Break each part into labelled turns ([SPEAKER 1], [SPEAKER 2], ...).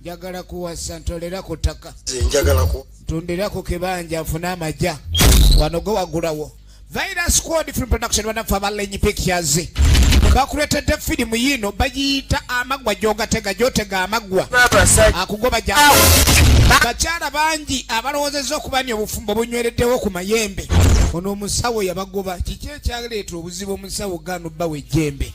[SPEAKER 1] njagala kuwasa ntolera ku ttaka ntundira ku kibanja nfune amagya wano gwe wagulawo virus squad film production banaffe abalenyi pictures bakuletedde firimu yiino bagiyita amaggwa gyogatega gyotega amaggwa akugoba ja bakyala bangi abalowoozezza okuba ni obufumbo bunywereddewo ku mayembe ono omusawo yabagoba kiki ekyaleeta obuzibu omusawo ganubba wejjembe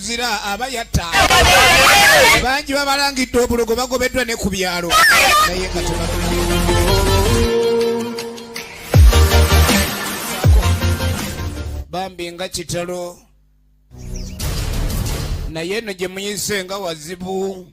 [SPEAKER 1] omuzira aba yatta bangi babalangidde obulogo bagobeddwa ne ku byalo naye nga bambi nga kitalo naye eno gye muyise nga wazibu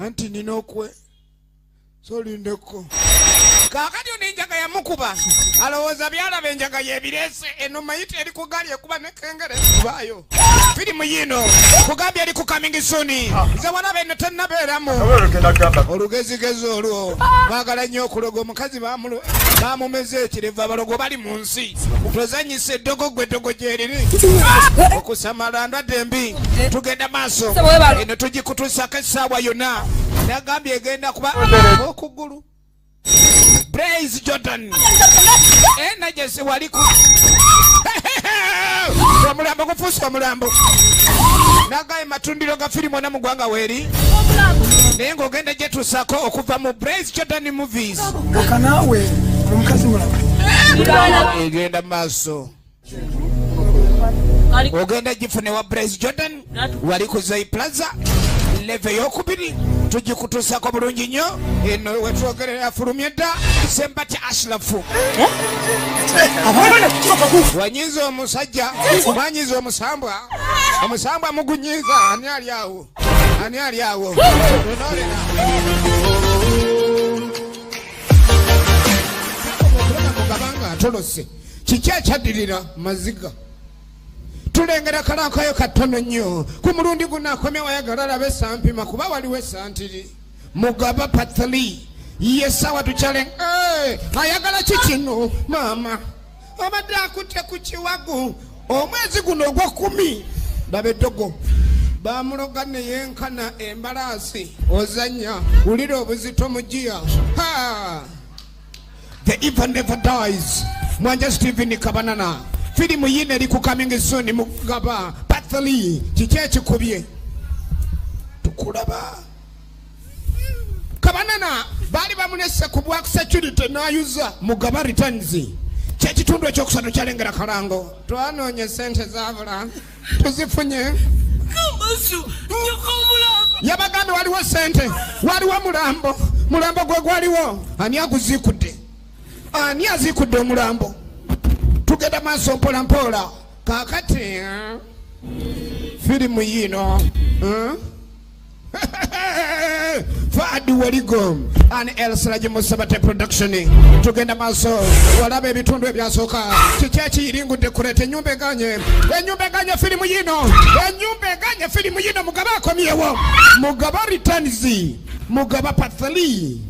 [SPEAKER 1] anti nina okwe solindeko kakati ono enjaga yamukuba alowooza byalaba enjaga yebirese eno mayita eri ku gaali ekuba nekengere kubayo firimu yino kugambye eri ku kamingi suni nze walaba eno tenabeeramu olugezigezi olwo bagala nnyo okuloga omukazi bamumeze ekireva balogo bali munsi si tozanyisa eddogo gwe eddogo gyeriri okusamala ndwadde embi tugenda maaso eno tugikutuusako essaawa yonna nagambye egenda kuba okugulu praise jordan enajesi waliku omulambo gufuusa omulambo nagaye matundiro ga firimu ona mu gwanga weeri naye ng'ogenda gyetuusako okuva mu praise jordan movie kanawe
[SPEAKER 2] omukazi mulaba
[SPEAKER 1] egenda maaso ogenda gifune wa bres jordan wali ku zai plaza leve eyokubiri tugikutuusako bulungi nnyo eno wetwogerera afulumye dda sembati ashrafu eh? wanyiza omusajja wanyiza omusambwa omusambwa mugunyiza ani ali awo Ani ali awo? atolose kiki ekyaddirira maziga tulengera kalankayo katono nnyo ku mulundi guno akomye wayagala alabe esampima kuba waliwo esantiri mugaba patali ye sawa tukyale eh, ayagala kikino maama abadde akutte ku kiwagu omwezi guno ogwokumi ndaba eddogo bamuloga neyenkana embalaasi ozanya wulira obuzito mugiya the evil never dies mwanja steven kabanana firimu yina eri ku coming soon mugaba pathly kiki ekikubye tukulaba kabanana baali bamunese ku bwa security nayuza mugaba returns kyekitundu ekyokusatu kyalengera kalango twanonye esente zabula tuzifunye
[SPEAKER 3] yabagambye waliwo
[SPEAKER 1] sente waliwo mulambo mulambo gwe gwaliwo ani aguzikudde ani azikudde omulambo tugenda maaso mpola mpola kakati eh? firimu yiino eh? Fadi Waligo and El Siraji Musabate production tugenda maaso walaba ebitundu ebyasooka kiki ekiyiringudde kuleeta ennyumba eganye ennyumba eganye firimu yino ennyumba eganye firimu yino mugaba akomyewo mugaba returns mugaba pathali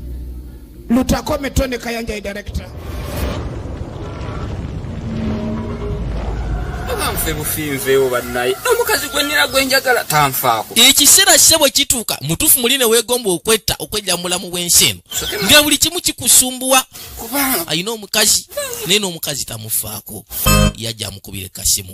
[SPEAKER 1] lutakome tony kayanja ye director
[SPEAKER 3] nfe bufinvewo bannaye omukazi gwenira gwenjagala tanfaako ekiseera kise bwe
[SPEAKER 4] kituuka mutuufu muli ne weegomba okwetta okwejja mu bulamu bw'ensi eno nga buli kimu kikusumbuwa alina omukazi naye n'omukazi tamufaako yajja amukubire kasimu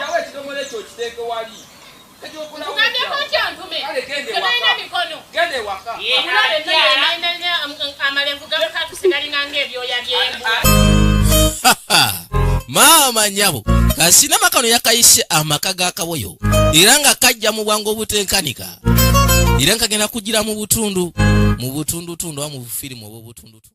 [SPEAKER 4] Yawe ekidomola ekyo okiteeke wali. Tugambyeko ki ontume? Tebalina mikono. Genda ewaka. Amalenvu gamukakusi galinga ng'ebyoya by'embwa. Maama nyabo kasinama kano yakayise amaka ga kaboyo era nga kajja mu bwangu obutenkanika era nga kagenda kugira mu butundu mu butundutundu oba mu bufirimu obw'obutundutundu